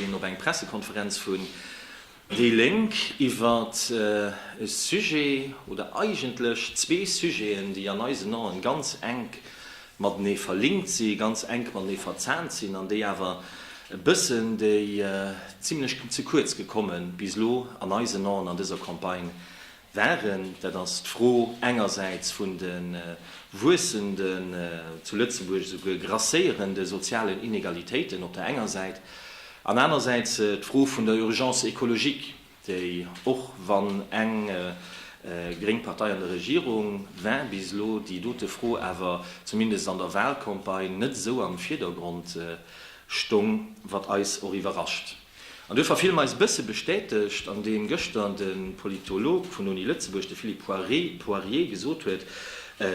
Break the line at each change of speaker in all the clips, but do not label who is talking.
Hien op eng Pressekonferenz vun déi Lénk iwwert e Sujet, oder eigentlech zwee Sujeten, déi an eisen Aen ganz enk matenee verlinkt si, ganz enk matenee verzahnt sinn, an déi awer e bëssen, déi zimlech ze kuerz gekommen bis elo an eisen Aen an dëser Campagne Waren, dat ass d'Fro engersäits vun de wuessenden, zu Lëtzebuerg esouguer grasséierende sozialen Inegalitéiten op der enger Säit an anersäits d'Fro vun der Urgence écologique, déi, och wann eng gréng Partei an der Regierung war bis elo, déi dote Fro awer zumindest an der Wahlcampagne net esou am Virdergrond stong, wat eis och iwwerrascht. An duerfir fille mer eis e bësse bestätegt an deem gëschter de Politolog vun der Uni Lëtzebuerg, de Philippe Poirier, gesot huet,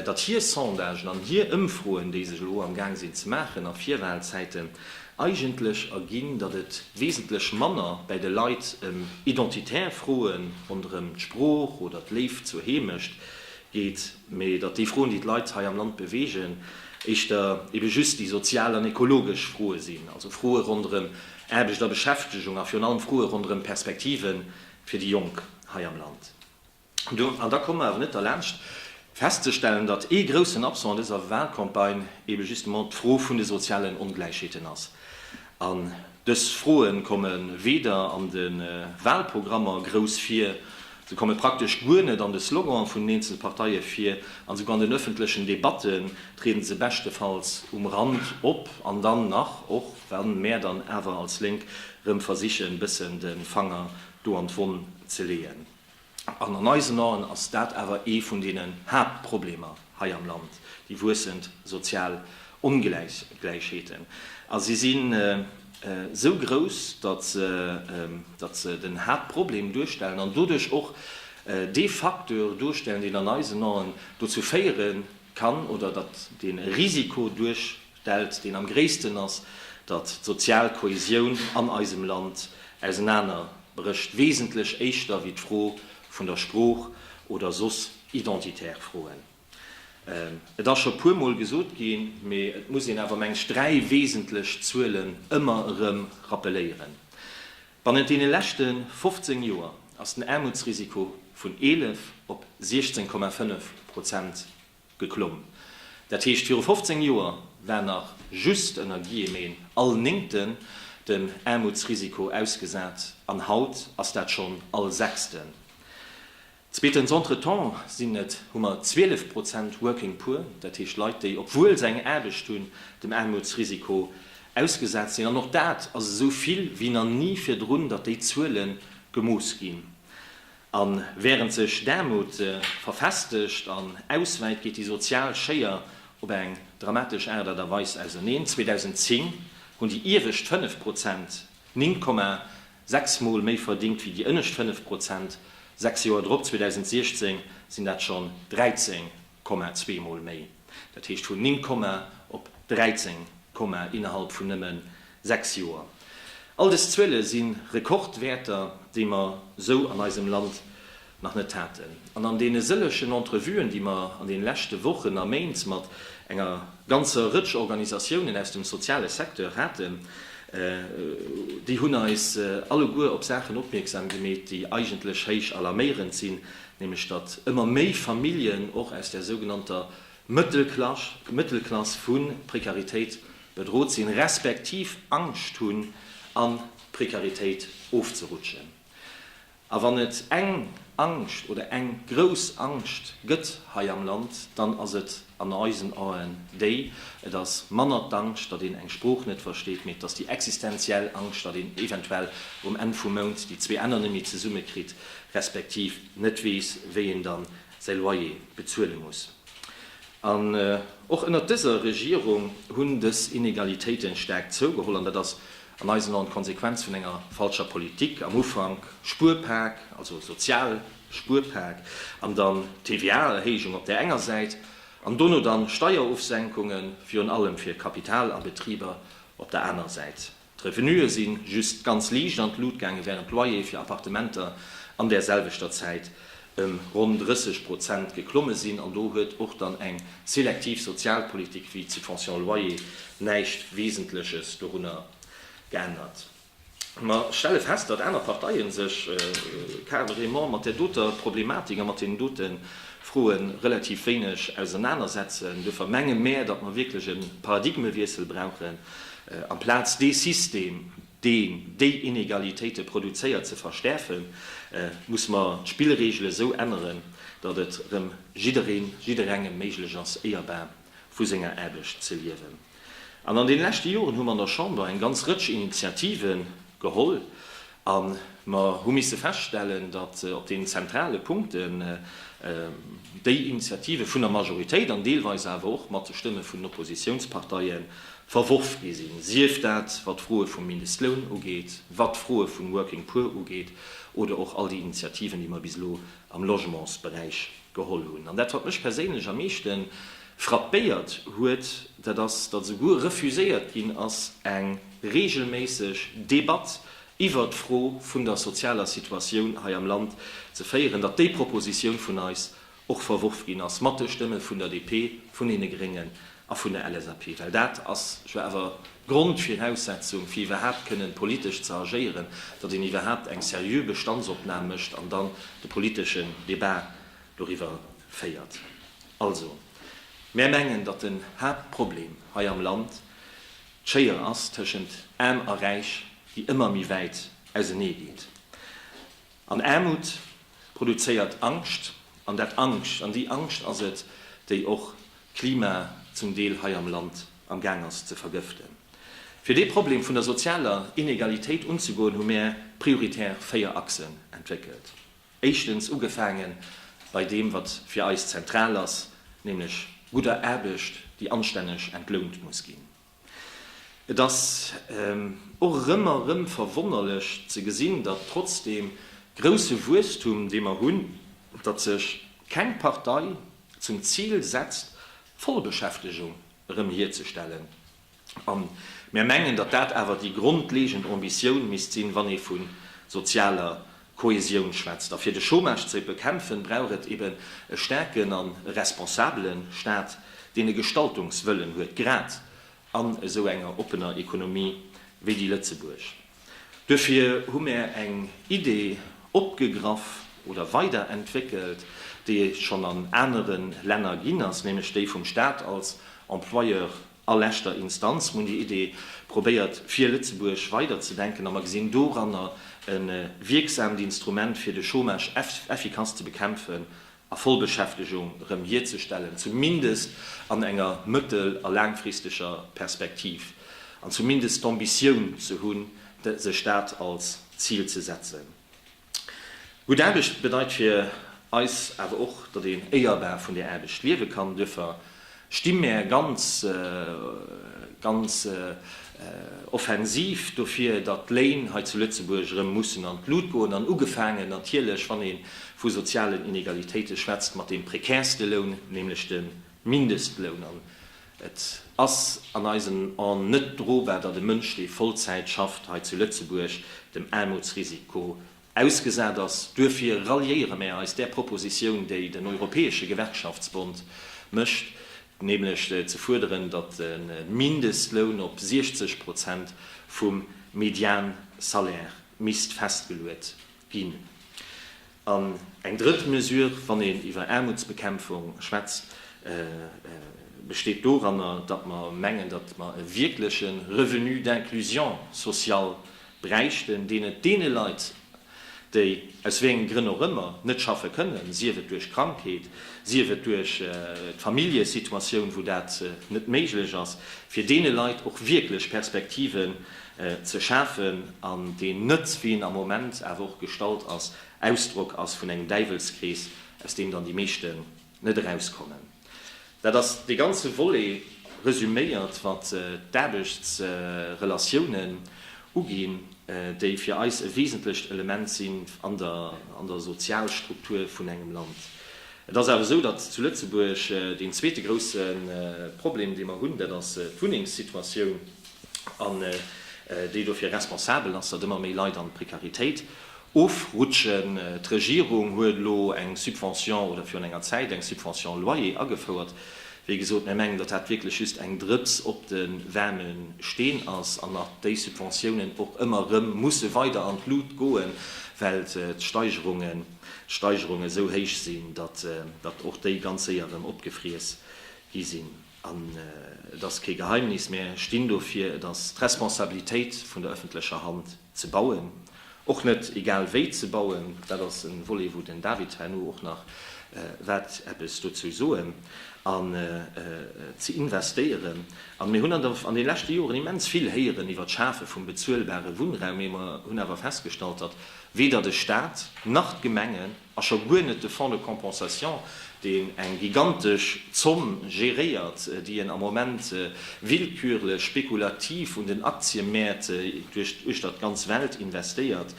datt hir Sondagen an hir Ëmfroen, déi sech elo amgaang sinn ze maachen a Virwalzäiten, eigentlech erginn, datt et wesentlech manner bäi de Leit ëm identitär Froen ronderëm d'Sprooch oder d'Léift zur Heemecht geet, mee datt déi Froen, déi d'Leit hei am Land beweegen, éischter ebe just déi sozial an ekologesch Froe sinn, also Froe ronderëm Aarbecht a Beschäftegung a virun allem Froe ronderëm d'Perspektive fir déi Jonk hei am Land. An da komme mer awer net derlaanscht festzestellen, datt ee groussen Absent an dëser Wahlcampagne ebe justement d'Fro vun de sozialen Ongläichheeten ass. An dës Froe komme weder an de Wahlprogrammer grouss vir, se komme praktesch guer net an de Slogane vun den eenzele Parteie vir an esouguer an den ëffentlechen Debatte triede se beschtefalls um Rand op an dann nach och, Wann mär dann awer als Lénk rëm versichen bëssen de Fanger do an d'Wonn ze leeën, an an eisen Aen ass dat awer ee vun deenen Haaptproblemer hei am Land, déi wuessend sozial Ongläichheeten, a si sinn esou grouss, datt se den Haaptproblem duerstellen an doduerch och dee Facteur duerstellen, deen an eisen Aen dozou féiere kann, oder datt dee Risiko duerch. stellt, deen am gréissten ass, datt d'sozial Kohäsioun an eisem Land ausenaner brécht, wesentlech éischter wéi d'Fro vun der Sprooch oder soss identitär Froen. Et ass scho puer mol gesot ginn, mee et muss een awer, meng ech, dräi wesentlech Zuelen ëmmer erëm rappeléieren, Bannent deene leschte 15 Joer ass den Aarmutsrisiko vun 11 op 16,5 Prozent Geklomm. Dat heescht, viru 15 Joer war nach just ënner Guillemeten all Néngten dem Aarmutsrisiko ausgesat an haut ass dat schonn all Sechsten. Zweetens, entretemps sinn et, hu mer 12 Prozent Working Poor, dat heescht Leit, déi, obwuel se eng Aarbecht hunn, dem Aarmutsrisiko ausgesat sinn. An och dat ass esou vill wéi nach ni virdrun, datt déi Zuele gemooss ginn. A während sech d'Aarmut verfestegt an auswäit, geet déi sozial Schéier op eng dramatesch Aart a Weis auserneen. 2010 hunn déi iewescht 5 Prozent 9,6 Mol méi verdingt wéi déi ënnescht 5 Prozent. Sechs Joer drop, 2016, sinn dat schonn 13 Komma zwee Mol méi, dat heescht vun 9 Komma op 13 Komma innerhalb vun nëmmen 6 Joer. All dës Zuele si Rekordwäerter, déi mer esou an eisem Land nach net haten. An an deene sëllegen Entrevuen, déi mer an deene leschte Wochen a Méint mat enger ganzer Rëtsch Organisatiounen aus dem soziale Secteur haten, déi hunn eis alleguer op Saachen opmierksam gemeet, déi eigentlech héich alarméierend sinn, nämlech datt ëmmer méi Familljen och aus der sougenannter Mëttelklass vu Prekaritéit bedrot sinn, respektiv Angscht hunn a Prekaritéit ofzerutschen. A wann et eng Angscht oder eng grouss Angscht gëtt hei am Land, dann ass et, an eisen Aen déi, et ass manner d'Angscht, datt een eng Sprooch net versteet, mee et ass déi existenziell Angscht, datt een eventuell um Enn vum Mount déi zwee Enner net méi zesumme kritt, respektiv net weess, wéi een dann säi Loyer bezuele muss. An och ënnert dëser Regierung hunn dës Inegalitéiten staark zougeholl, an dat ass an eisen Aen d'Konsequenz vun enger falscher Politik, am Ufank Spuerpak, also sozial Spuerpak an dann d'TVA-Erhéijung op där enger Säit an dono dann Steierofsenkunge virun allem fir Kapital a Betriber op der aner Säit. D'Revenuë si just ganz liicht an d'Lut gaange wärend d'Loyere fir Appartementer an där selwechter Zäit ëm ronn 30 Prozent geklomme sinn an do huet och dann eng selektiv Sozialpolitik wéi d'Subvention loyer näischt Wesentleches dorunner geännert. Mer stelle fest, datt aner Parteie sech carrément mat där doter Problematik a mat deenen dote Froe relativ wéineg ausernanersetzen. Duerfir menge mär, datt mer wierklech e Paradigmewiessel brauchen, amplaz dee System, deen déi Inegalitéite produzéiert, ze verstäerfen, musse mer d'Spillreegele sou änneren, datt et erëm jiddereen, jidderengem méiglech ass, éierbar vu senger Aarbecht ze liewen. An an den leschte Joren hu mer an der Chamber eng ganz Rëtsch Initiativen geholl a mer hu misse feststellen, datt op den zentrale Punkten déi Initiative vun der Majoritéit an deelweis awer och mat de Stëmme vun den Oppositiounsparteie verworf gi sinn, sief dat wat d'Froe vum Mindestloun ugeet, wat d'Froe vun Working Poor ugeet oder och all déi Initiativen, déi mer bis elo am Logementsberäich geholl hunn. An dat, wat mech perséinlech am meeschte frappéiert huet, dat ass, datt esouguer refuséiert ginn ass, eng reegelméisseg Debatt iwwert d'Fro vun der sozialer Situatioun hei am Land ze féieren, datt déi Propositioun vun eis och verworf ginn ass, mat de Stëmme vun der DP, vun deene Gréngen A vun der LSAP, well dat ass jo awer d'Grondviraussetzung, fir iwwerhaapt kënnen politesch ze agéieren, datt een iwwerhaapt eng seriö Bestandsopnam mécht an dann de politeschen Debat doriwwer féiert. Also, mär mengen, datt den Haaptproblem hei am Land d'Schéier ass tëschent Aarm a Räich, déi ëmmer méi wäit auseneegeet. An Aarmut produzéiert Angscht, an dat Angscht, an déi Angscht ass et, déi och d'Klima zum Deel hei am Land am Gaang ass ze vergëften. Fir dee Problem vun der sozialer Inegalitéit unzegoen, hu mär prioritär véier Achsen entwéckelt. Éischtens, ugefaange bei deem, wat fir eis zentral ass, nämlech gudder Aarbecht, déi anstänneg entlount muss ginn. Et ass och erëm a erëm verwonnerlech ze gesinn, datt trotz deem grousse Wuesstum, dee mer hunn, datt sech keng Partei zum Zil setzt, d'Vollbeschäftegung erëm hierzestellen. A mär mengen, datt dat awer déi grondlegend Ambitioun misst sinn, wann ee vu sozialer Kohäsion schwätzt. A fir de Chômage ze bekämpfen, brauch et eben e staarken an e responsabelen Staat, deen e Gestaltungswëllen huet, grad an esou enger oppener Economie wéi déi Lëtzebuerg. Duerfir hu mär eng Idee opgegraff oder weiderentwéckelt, déi et schonn an aneren Länner ginn ass, nämlech déi vum Staat als Employeur A leschter Instanz, muni Idee probéiert fir Lëtzebuerg weider ze denken, a mer gesinn doranner e wierksaamt Instrument fir de Chômage effikass ze bekämpfen a Vollbeschäftegung erëm hierzestellen, zumindest an enger mëttel a laangfristeger Perspektiv, an zumindest d'Ambitioun ze hunn, sech dat als Zil ze setzen. Gutt Aarbecht bedeit fir eis awer och, datt een éierbar vun där Aarbecht liewe kann. Duerfir sti mär ganz, ganz offensiv dofir, datt d'Léin hei zu Lëtzebuerg erëm mussen an d'Lut goen, an ugefaangen natierlech, wann ee vu sozialen Inegalitéite schwätzt, mat deem prekärste Loun, nämlech de Mindestloun. Et ass an eisen En net drobar, datt e Mënsch, dee Vollzäit schafft, hei zu Lëtzebuerg dem Aarmutsrisiko ausgesat ass. Duerfir ralliéiere mär eis där Propositioun, déi den Europäesche Gewerkschaftsbond mécht, nämlech ze fuerderen, datt de Mindestloun op 60 Prozent vum Mediansalaire misst festgeluet ginn. An eng drëtt Mesure, wann een iwwer Aarmutsbekämpfung schwätzt, besteet doranner, datt mer mengen, datt mer e wierkleche Revenu d'inclusion sociale bräichten, deen et deene Leit, déi aus wéi enge Grënn och ëmmer net schaffe kënnen, sief et duerch Krankheet, sief et duerch d'Familljesituatioun, wou dat net méiglech ass, fir deene Leit och wierklech Perspektiven ze schafen, an deen net, wéi en am Moment awer och gestallt ass, Ausdrock ass vun engem Däiwelskrees, aus deem dann déi meeschten net erauskommen. Dat ass dee ganze Volet resuméiert, wat d'Aarbechtsrelatiounen uginn, déi fir eis e wesentlecht Element sinn an der Sozialstruktur vun engem Land. Et ass awer esou, datt zu Lëtzebuerg deen zweete grousse Problem, dee mer hunn, dat ass d'Wunnengssituatioun. an déi dofir responsabel ass, datt ëmmer méi Leit an d'Prekaritéit ofrutschen. D'Regierung huet elo eng Subvention oder virun enger Zäit eng Subvention Loyer agefouert. Wéi gesot, mir mengen, datt dat wierklech just eng Drëps op de waarme Steen ass an datt déi Subventiounen och ëmmer erëm musse weider an d'Lut goen, well d'Steigerungen esou héich sinn, datt och déi ganz séier erëm opgefriess gi sinn. An et ass kee Geheimnis, Mir stinn dofir, et ass d'Responsabilitéit vun der ëffentlecher Hand ze bauen, och net egal wéi ze bauen. Dat ass e Volet, wou den David herno och nach wäert eppes dozou soen. An ze investéieren. An mir hunn an de leschte Joren immens vill héieren iwwert d'Schafe vum bezuelbare Wunnraum, mee mer hunn awer festgestallt, datt weder de Staat nach d'Gemenge, A scho guer net de Fonds de compensation, deen eng gigantesch Zomm geréiert, déi en am Moment willkürlech, spekulativ un den Aktiëmäert uechter d'ganz Welt investéiert.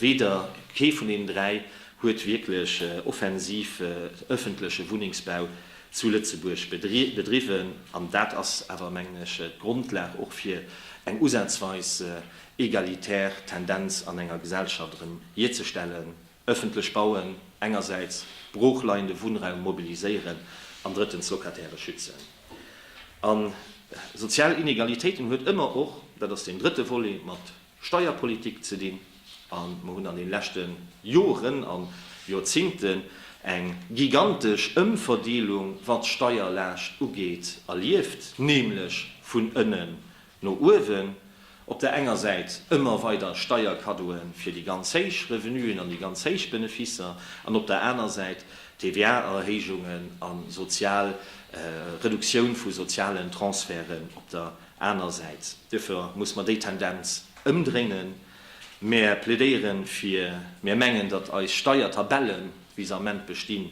Weder kee vun deenen dräi huet wierklech offensiv öffentleche Wunnengsbau zu Lëtzebuerg bedriwwen. An dat ass awer, mengen ech, d'Grondlag och fir eng usazweis egalitär Tendenz an enger Gesellschaft erëm hierzestellen, ëffentlech bauen, engersäits broochleiende Wunnraum mobiliséieren an drëttens d'Locatairë schützen. A sozial Inegalitéiten huet ëmmer och, dat ass deen drëtte Volet, mat Steierpolitik ze dinn. A mer hunn an de leschte Joren a Joerzingten eng gigantesch Ëmverdeelung, wat d'Steierlaascht ugeet, erlieft, nämlech vun ënnen No uewen, Op der enger Säit ëmmer weider Steierkaddoe fir déi ganz héich Revenuen an déi ganz héich Beneficer an op der aner Säit TVA-Erhéijungen a sozial Reduktioun vu sozialen Transferten op der aner Säit. Duerfir muss mer déi Tendenz ëmdréinen. Mer plädéiere fir, mer mengen, datt eis Steiertabellen, wéi se am Ment bestinn,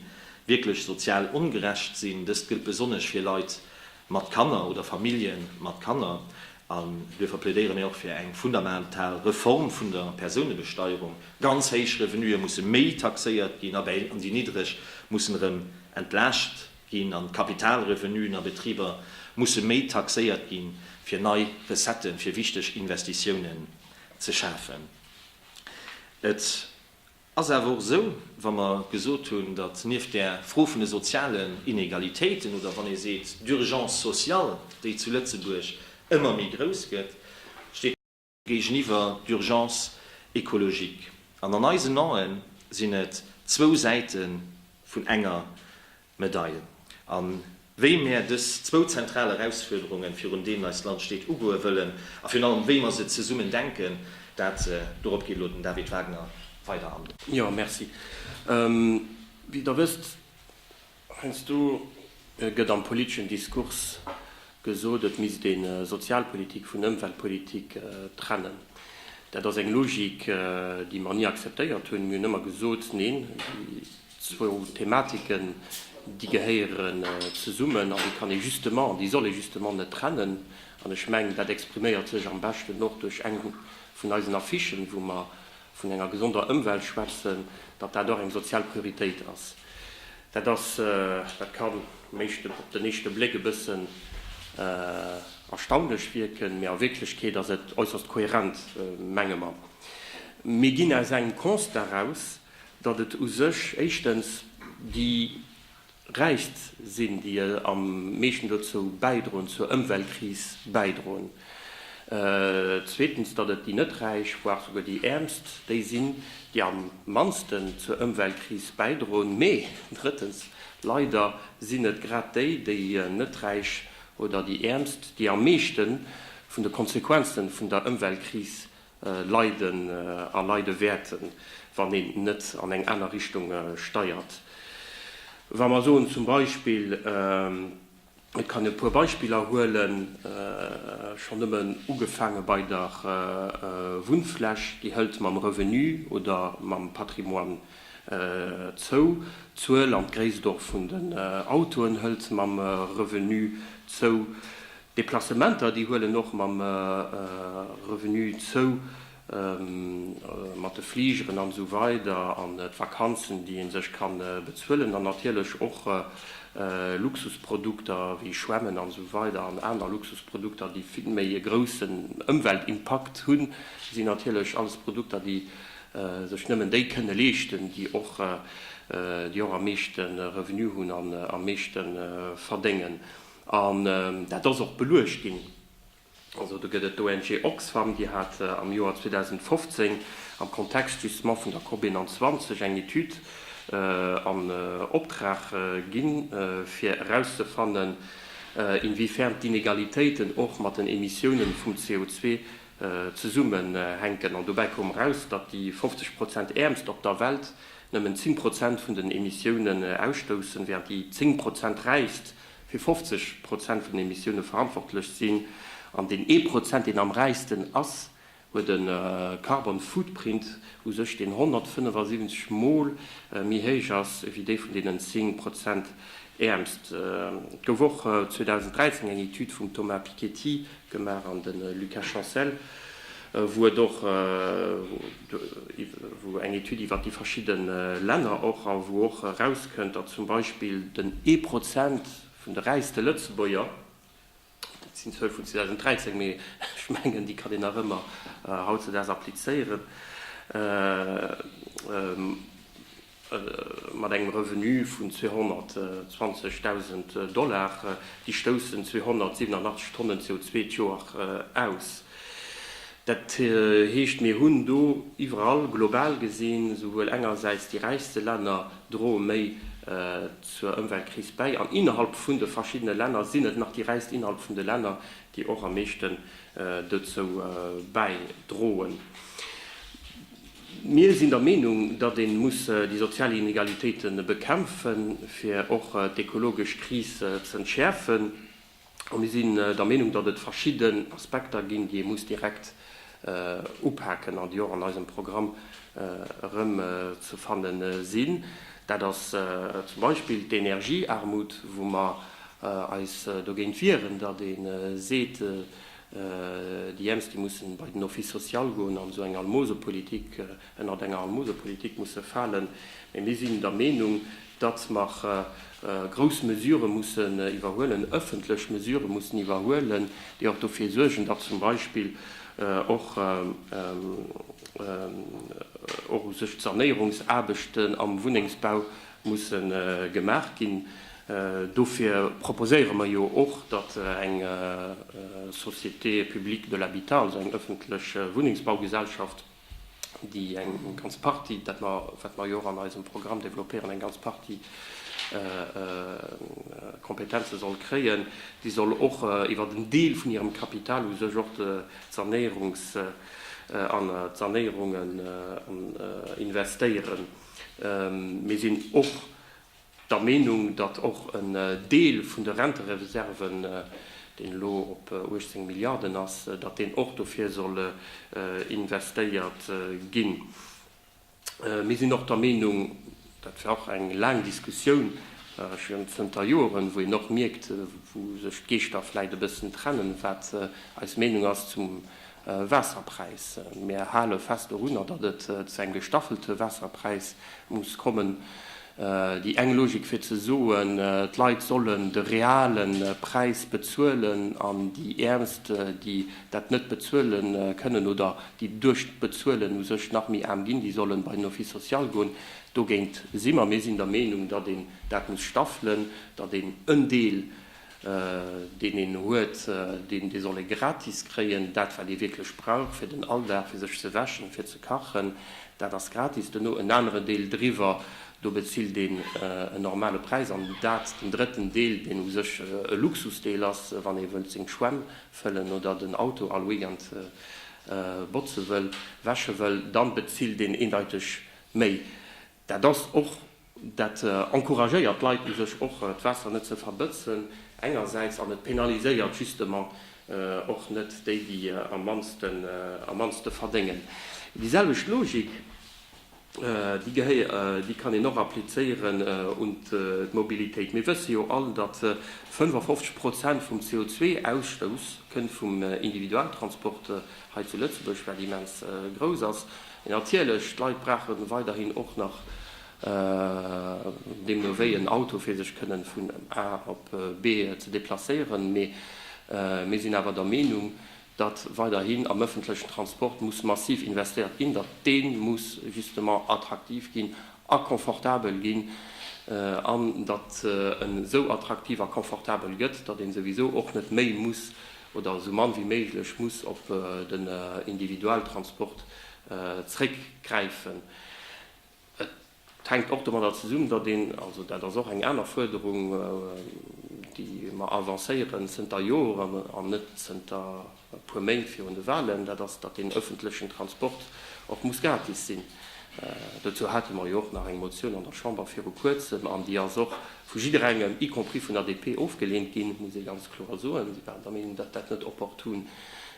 wierklech sozial ongerecht sinn. Dëst gëllt besonnesch fir Leit mat Kanner oder Familljen mat Kanner, an duerfir plädéiere mir och fir eng fundamental Reform vun der Persounebesteierung, ganz héich Revenuë musse méi taxéiert ginn a déi niddreg mussen erëm entlaascht ginn, an d'Kapitalrevenuën a Betriber musse méi taxéiert ginn, fir nei Recettë fir wichteg Investitiounen ze schafen. Et. ass awer och esou, wa mer gesot hunn, datt nieft där Fro vun de sozialen Inegalitéiten oder wann ee seet d'Urgence sociale, déi zu Lëtzebuerg ëmmer méi grouss gëtt, steet. Géigeniwwer d'Urgence écologique. An an eisen Ae sinn et zwou Säite vun enger Medaille. A wéi mär dës zwou zentral Erausfuerderungen, virun deenen eist Land steet, ugoe wëllen a virun allem wéi mer se zesummen denken, dat, dorop geet elo den David Wagner weider an. Jo, merci.
Wéi Der wësst, heiansdo gëtt am politeschen Diskurs gesot, et misst ee Sozialpolitik vun Ëmweltpolitik trennen. Dat ass eng Logik, déi mer ni akzeptéiert hunn. Mir hunn ëmmer gesot, Neen, déi Zwou Thematiken, déi gehéieren zesummen an déi kann ee justement, déi soll ee justement net trennen. An ech mengen, dat expriméiert sech am beschten och duerch eng vun eisen Affichen, wou mer vun enger gesonder Ëmwelt schwätzen, datt dat och eng sozial Prioritéit ass. Dat ass, dat kann um éischte, op den éischte Bléck e bëssen erstaunlech wierken, mee a Wierklechkeet ass et äusserst kohärent, menge mer. Mir ginn aus engem Constat eraus, datt et u sech éischtens déi Räichst sinn, déi am meeschten dozou bäidroen, zur Ëmweltkris bäidroen, zweetens, datt et déi net Räich, voire souguer déi Äermst, déi sinn, déi am mannsten zur Ëmweltkris bäidroen, mee drëttens, leider sinn et grad déi, déi net Räich oder déi Äermst, déi am meeschte vun de Konsequenze vun der Ëmweltkris leiden a leide wäerten, wann een net an eng aner Richtung steiert. Wa mer soen zum Beispill, et kann e puer Beispiller huelen, schonn nëmmen ugefaange bei der Wunnfläch, déi hëlt mam Revenu oder mam Patrimoine zou, d'Zuel an d'Gréisst och vun den Autoen hëlt mam Revenu zou, D'Deplacementer, déi huelen och mam Revenu zou, mat de Fligeren an esou weider an d'Vakanzen, déi ee sech ka bezuelen an natierlech och Luxusprodukter wéi Schwämmen an esou weider an aner Luxusprodukter, déi vill méi e groussen Ëmweltimpakt hunn, sinn natierlech alles Produkter, déi sech nëmmen déi kënne leeschten, déi och am meeschte Revenu hunn an am meeschte verdéngen. An dat ass och beluecht ginn. Also do gëtt et d'ONG Oxfam, déi hat am Joer 2015 am Kontext justement vun der COP 21 eng Etüd an Optrag ginn, fir erauszefannen, inwiefern d'Inegalitéiten och mat den Emissiounen vum CO2 zesummenhänken. An dobäi koum eraus, datt déi 50 Prozent Äermst op der Welt nëmmen 10 Prozent vun den Emissiounen ausstoussen, während déi 10 Prozent Räichst fir 50 Prozent vun den Emissioune verantwortlech sinn, an deen ee Prozent, deen am räichsten ass, huet e Carbon Footprint u sech, deen 175 Mol méi héich ass wéi dee vun deenen 10 Prozent Äermst. Et gouf och 2013 eng Etüd vum Thomas Piketty gemaach an de Lucas Chancel, wou et och wou eng Etüd iwwert déi verschidde Länner och a wou och erauskënnt, datt zum Beispill den ee Prozent vun de räichste Lëtzebuerger, dat sinn Zuele vun 2013, mee ech mengen déi kann een nach ëmmer hautzedaags applizéieren, Mat engem Revenu vun 220.000 Dollar déi stoussen 287 Tonnen CO2 d'Joer aus. Dat heescht, mir hunn do iwwerall, global gesinn, souwuel engersäits déi räichste Länner droe méi zur Ëmweltkris bäi an innerhalb vun de verschiddene Länner sinn et nach déi räichst innerhalb vun de Länner, déi och am meeschten dozou bäidroen. Mir sinn der Meenung, datt ee muss déi sozial Inegalitéite bekämpfen, fir och d'ekologesch Kris z'entschäerfen. A mir sinn der Meenung, datt et verschidden Aspekter ginn, déi ee muss direkt upaken an déi och an eisem Programm erëm ze fanne sinn. Dat ass zum Beispill d'Energiearmut, wou mer eis dogéint wieren, datt ee seet, Déi Äermst, déi mussen bei den Office social goen an esou eng Almosepolitik, ënnert enger Almosepolitik musse falen. Mee mir sinn der Meenung, datt mer grouss Mesurë mussen iwwerhuelen, ëffentlech Mesurë mussen iwwerhuelen, déi och dofir suergen, datt zum Beispill och sech d'Sanéierungsaarbechten am Wunnengsbau musse gemaach ginn. Dofir proposéiere mer jo och, datt eng Société publique de l'habitat, also eng öffentlech Wunnengsbaugesellschaft, déi eng ganz Partie, dat mer, wat mer jo och an eisem Programm développéieren, eng ganz Partie Kompetenze soll kréien, déi soll och iwwert en Deel vun hirem Kapital u sech och d'Sanéierungs an d'Sanéierungen investéieren. Mir sinn och der Meenung, datt och en Deel vun de Rentereserven, deen elo op 18 Milliarden ass, datt deen och dofir soll investéiert ginn. Mir sinn och der Meenung, dat war och eng laang Diskussioun schonn zënter Joeren, wou een och mierkt, wou sech d'Geeschter vläicht e bëssen trennen, wat eis Meenung ass zum, Waasserpräis. Mir hale fest dorunner, datt et zu engem gestaffelte Waasserpräis muss kommen. Déi eng Logik fir ze soen, d'Leit sollen de reale Präis bezuelen an déi Äermst, déi dat net bezuele kënnen oder déi duerch d'Bezuelen u sech nach méi aarm ginn, déi solle bei den Office social goen, dogéint si mer. Mir sinn der Meenung, datt een dat muss staffelen, datt een en Deel deen een huet, deen dee soll ee gratis kréien, dat wat ee wierklech brauch fir den Alldag, fir sech ze wäschen, fir ze kachen, dat ass gratis. Duerno en anere Deel driwwer, do bezilt een en normale Präis. An dat, den drëtten Deel, deen u sech e Luxusdeel ass, wann ee wëllt seng Schwämm fëllen oder den Auto all Weekend botze wëll, wäsche wëll, da bezilt een eendeiteg méi. Dat ass och, dat encouragéiert d'Leit u sech och, d'Waasser net ze verbëtzen engersäits, an et penaliséiert justement och net déi, déi am mannste verdéngen. Déi selwecht Logik, déi kann een och applizéieren un d'Mobilitéit. Mir wësse jo all, datt 55 Prozent vum CO2-Ausstouss kënnt vum Individualtransport. hei zu Lëtzebuerg, wat immens grouss ass, mee natierlech, d'Leit brauche weiderhin och nach deemno wéi en Auto, fir sech kënnen vun A op B ze deplacéieren. Mee mir sinn awer der Meenung, datt weiderhin am ëffentlechen Transport muss massiv investéiert ginn, datt dee muss justement attraktiv ginn a confortabel ginn an datt en esou attraktiv a confortabel gëtt, datt een souwisou och net méi muss, oder esou mann wéi méiglech muss op den Individualtransport zréckgräifen. Et hänkt och domadder zesummen, datt een, also dat ass och eng aner Fuerderung, déi mer avancéieren zënter Joren an net zënter e puer Méint virun de Wahlen, dat ass, datt den öffentlechen Transport och muss gratis sinn. Dozou hate mer jo och nach eng Motioun an der Chamber viru Kuerzem an déi ass och vu jidderengem, y compris vun ADP, ofgelehnt ginn, muss ee ganz kloer soen. Si waren der Meenung, datt dat net opportun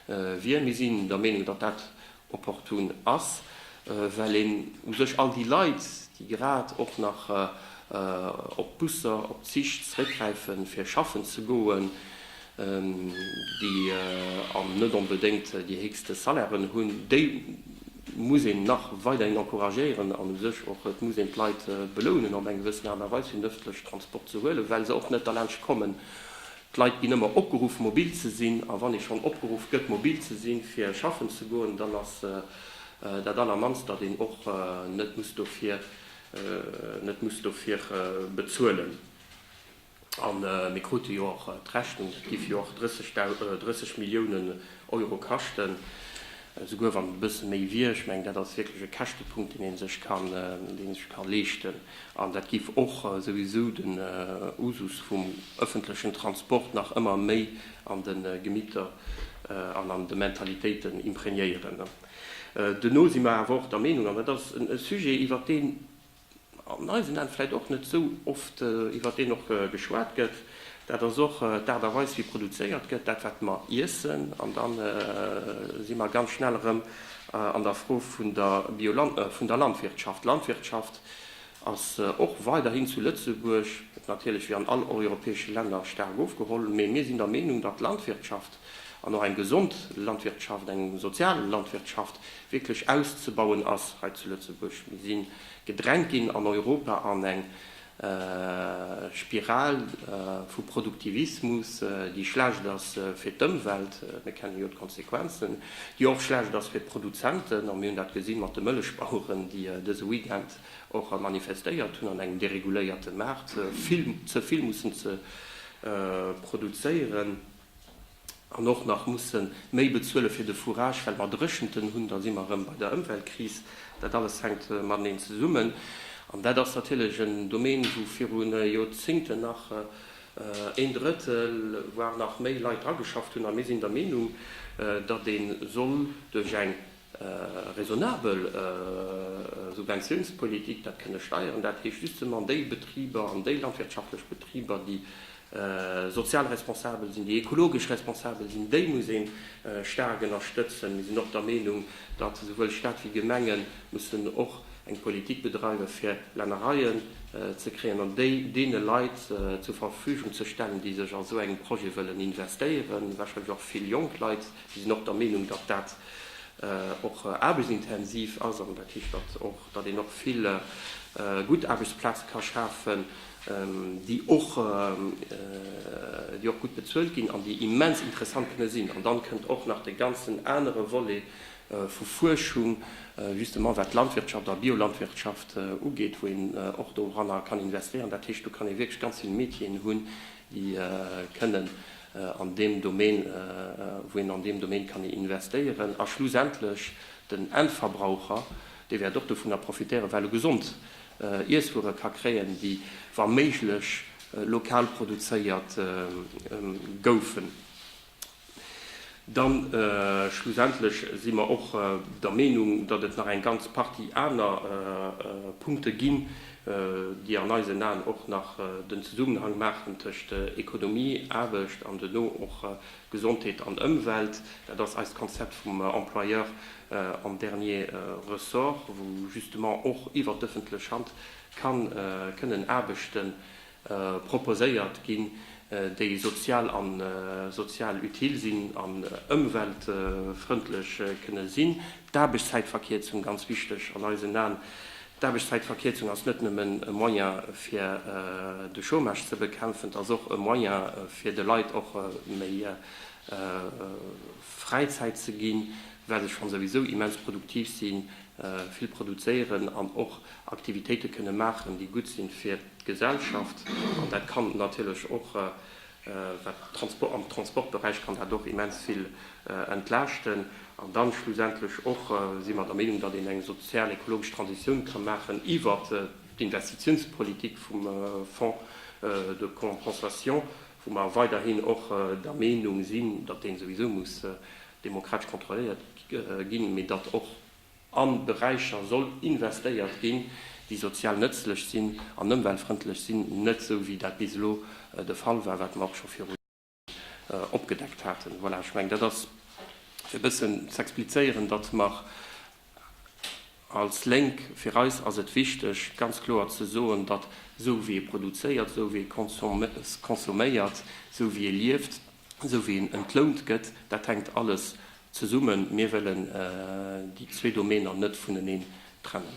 wier. Mir sinn der Meenung, datt dat opportun ass, well een u sech all déi Leit, déi grad och nach op d'Busser, op d'Zich zeréckgräifen, fir schaffen ze goen, déi an net onbedéngt déi héchste Salairen hunn, déi muss een nach weiderhin encouragéieren an u sech och, et muss een d'Leit belounen op eng gewëssen Aart a Weis fir den ëffentlechen Transport ze huelen, well se och net derlaanscht kommen. D'Leit ginn ëmmer opgeruff mobil ze sinn a wann ee schonn opgeruff gëtt mobil ze sinn fir schaffen ze goen, dann ass dat allermannst, datt een och net muss dofir net muss dofir bezuelen. A mir krute jo och d'Rechnung, dat géif jo och 30 Milliounen Euro kaschten, esouguer wann et e bësse méi wier. Ech mengen, dat ass wierklech e Käschtepunkt, deen ee sech ka leeschten. An dat géif och souwisou den Usus vum ëffentlechen Transport nach ëmmer méi an de Gemitter an an de Mentalitéiten imprégnéieren. Duerno si mer awer och der Meenung, an dat ass e Sujet, iwwert deen an eisen Aen vläicht och net esou oft iwwer deen och geschwat gëtt, dat ass och d'Aart a Weis wéi produzéiert gëtt, dat wat mer iessen. An da si mer ganz schnell erëm an der Fro vun der Bioland, vun der Landwirtschaft. D'Landwirtschaft ass och weiderhin zu Lëtzebuerg, natierlech wéi an all europäesche Länner, staark ofgeholl, mee mir sinn der Meenung, datt d'Landwirtschaft an och eng gesond Landwirtschaft, eng sozial Landwirtschaft wierklech auszebauen ass hei zu Lëtzebuerg. Mir si gedrängt ginn an Europa an eng Spiral vu Produktivismus, déi schlecht ass fir d'Ëmwelt, mir kennen jo d'Konsequenzen, déi och schlecht ass fir d'Produzenten, a mir hunn dat gesi mat de Mëllechbaueren, déi dëse Weekend och manifestéiert hunn an engem dereguléierte Maart vill ze vill mussen ze produzéieren. an och nach mussen méi bezuelen fir de Fourage well mer Dréchenten hunn, da si mer erëm bei der Ëmweltkris. Dat alles hänkt mateneen zesummen an dat ass natierlech en Domaine wou viru Jorzingten nach een Drëttel, voire nach méi Leit dra geschafft hunn a mir sinn der Meenung, datt ee soll duerch eng Raisonnabel Subventiounspolitik, dat kënne Steieren, dat heescht justement an déi Betriber, an déi landwirtschaftlech Betriber, déi sozial responsabel sinn, déi ekologesch responsabel sinn, déi muss ee staark ënnerstëtzen. Mir sinn och der Meenung, datt esouwuel Stat wéi Gemenge mussen och eng Politik bedreiwen, fir Lännereien ze kréien an déi deene Leit zur Verfügung ze stellen, déi sech a sou engem Projet wëllen investéieren, wahrscheinlech och vill jonk Leit. Mir sinn och der Meenung, datt dat och aarbechtsintensiv ass an dat heescht, datt och, datt een och vill gutt Aarbechtsplaze ka schafen, déi och, déi och gutt bezuelt ginn an déi immens interessant kënne sinn. An dann kënnt och nach de ganzen anere Volet vu Fuerschung, justement wat d'Landwirtschaft a Biolandwirtschaft ugeet, wou een och doranner kann investéieren. Dat heescht, do kann ee wierklech ganz vill Métieren hunn, déi kënnen an deem Domaine, wou een an deem Domaine kann investéieren, a schlussendlech den Endverbraucher, dee wäert och dovunner profitéieren, well e gesond Iesswuere ka kréien, déi wa méiglech lokal produzéiert goufen. Dann schlussendlech si mer och der Meenung, datt et nach eng ganz Partie aner Punkte ginn, déi an eisen Aen och nach den Zesummenhang maachen tëscht Ekonomie, Aarbecht an duerno och Gesondheet an Ëmwelt. Dat ass eist Konzept vum Employeur en dernier ressort, wou justement och iwwert d'ëffentlech Hand ka kënnen Aarbechten proposéiert ginn, déi sozial a sozial utile sinn an ëmweltfrëndlech kënne sinn. D'Aarbechtszäitverkierzung, ganz wichteg an eisen Aen, d'Aarbechtszäitverkierzung ass net nëmmen e Moyen fir de Chômage ze bekämpfen, et ass och e Moyen fir de Leit och méi Fräizäit ze ginn, well se schonn souwisou immens produktiv sinn. vill produzéieren an och Aktivitéite kënne maachen, déi gutt si fir d'Gesellschaft. An dat kann natierlech och wat Transport, am Transportberäich kann dat och immens vill entlaaschten. An dann schlussendlech och si mer der Meenung, datt een eng sozial-ekologesch Transitioun ka maachen iwwer d'Investitiounspolitik vum Fonds de compensation, wou mer weiderhin och der Meenung sinn, datt deen souwisou muss demokratesch kontrolléiert ginn, mee datt och a Beräicher soll investéiert ginn, déi sozial nëtzlech sinn an ëmweltfrëndlech sinn, net esou wéi dat bis elo de Fall war, wat mer och scho viru Joren opgedeckt haten. Voilà, ech mengen, dat ass fir e bëssen ze explizéieren, datt mer als Lénk, fir eis ass et wichteg ganz kloer ze soen, datt esou wéi ee produzéiert, esou wéi ee consomméiert, esou wéi ee lieft, esou wéi en entlount gëtt, dat hänkt alles zesummen. Mir wëllen déi zwee Domäner net vuneneen trennen.